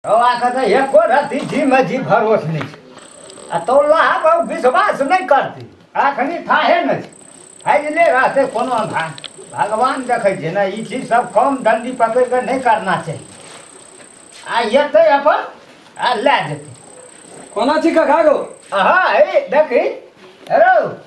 अहाँके तऽ एको रति जीमे जी भरोस नहि छै आ तो लहा विश्वास नहि करती अखनी थाहे नहि छै फैजले रहतै कोनो अन्धार भगवान देखै छै ने ई चीज सब कम दण्डी पकड़ि कऽ नहि करना चाही आ एतै अपन आ लए जेतै कोना छी कखा गो अहाँ देखी हेरो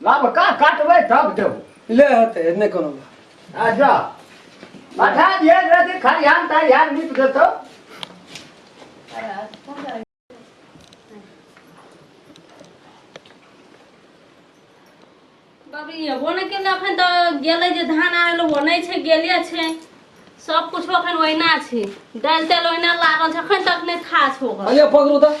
लाभ का काटबै तब देबो ले हते नहि कोनो बात आ जा पठा दिए रहती खरिहान तरिहान नीप देतो बाबरी एबो नहि केलै एखन तऽ गेलै जे धान आयल ओ नहि छै गेले छै सब कुछ एखन ओहिना छै दालि तालि ओहिना लागल छै एखन तक नहि खा छो अरे पकड़ू तऽ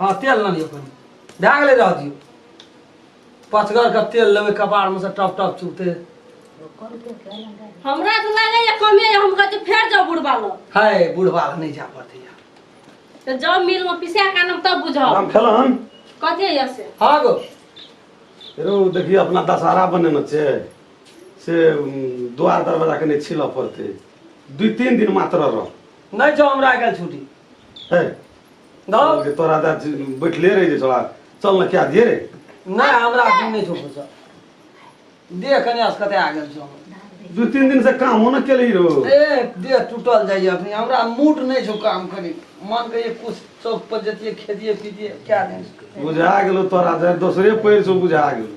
हाँ तेल ना लियो कहीं भए गेलै रह दियो पचगर के तेल लेबै कपार में से टप टप चुगते हमरा तो लगे ये कमे ये हम कहते फेर जाओ बुढ़वा लो हाय बुढ़वा लग नहीं जा पड़ते यार तो जाओ मिल में पिसा का नाम तब बुझाओ राम खेलन कथे ये से हाँ गो रो देखिए अपना दशहरा बने न छे से उम, द्वार दरवाजा के नहीं छिल पड़ते दू तीन दिन मात्र रह नहीं जाओ हमरा आइ काल्हि छुट्टी है धर के तोरा दा बैठले रह जे छोड़ा चल ना क्या दिए रे नहीं हमरा अखन नहीं छो फुर्सत देह कने असकते आ गेल छो दू तीन दिन से काम होना के लिए रहो ए देह टूटल जाइए अखनी हमरा मूड नहीं छो काम करी मन के ये कुछ चौक पर जतिए खेतिए पीतिए क्या दिन बुझा गेलो तोरा दा दोसरे पैर से बुझा गेलो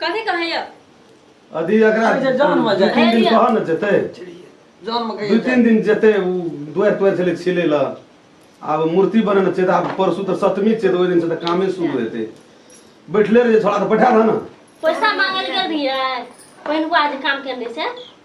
कथी कहैया अभी एकरा अरे जे जान में दू जाए। तीन दिन कह न जेतै जान में दू कहिए तीन दिन जेतै उ दुआरि तुआरि छलै छिलै लऽ आब मूर्ति बनेने छै तऽ आब परसू तऽ सप्तमी छै तऽ ओहि दिन से तऽ कामे शुरू हेतै बैठले रहियै छोड़ा तऽ बैठा दह ने पैसा मांगल गेल रहियै पहिलुका जे काम केने से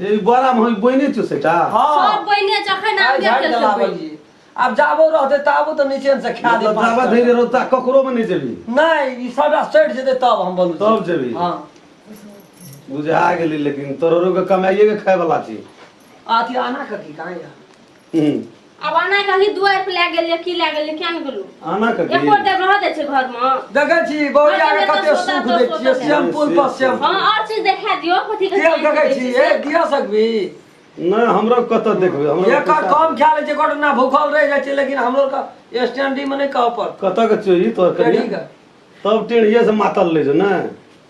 ए ई बड़ा हम बहिने थियो सेटा सब हाँ बहिने जखन आइ आबि झाड़ि गेल देला सब बहिने। बहिनी। आब जाबो रहते ताबो तो नीचे से खा दे मतलब जाबा धैर्य रोता ककरो में नहीं जेबी नहीं ई सबटा सटि जेते तब हम बोलू तब जेबी। हाँ बुझा गेली लेकिन तोरो के कमाइए के खाए वाला छी अथी आना कथी कहाँ या हम्म। अब आना कभी दुआर पे लए गेलियै की लए गेलियै किया ने गेलू आना के एको गेल। टाइम रह दै छै घर मे देखै छी बौआ के कते सुख दै छियै शैम्पूल पर शैम्पू हँ आओर चीज देखा दियो कथी के तेल देखै छी ए दिया सकबी नहि हमरा कतऽ देखबै हमरा एकर पैसा- कम ख्याल छै घटना भूखल रह जाइ छै लेकिन हमरो का स्टैंडिंग में नहीं कह पर कतऽ के चोरी तोर करी टेढ़ी के। तब टेढ़िए से मातल ले जो ने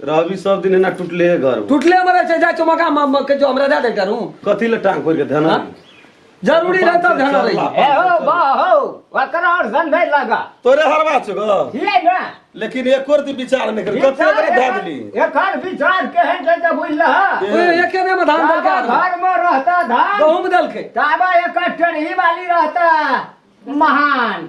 रहबी सब दिन एना टूटले है घर टूटले मरे छै जाय चमका म- म- के जो हमरा दे दे करू कथी ले टांग खोल के धना हाँ? जरूरी रहे तब ध्यान रही ए हो बा हो ओकर और सन नहीं लगा तोरे हरवा छो ग ये ना लेकिन एक और ती विचार नहीं कर कथी एकरा दे दिली एकर विचार केहन छै जे बुझल ए। ओए, एके में धान दल के ताबा घर में रहता धान गहूम दल के ताबा एकर टेढ़ी वाली रहता महान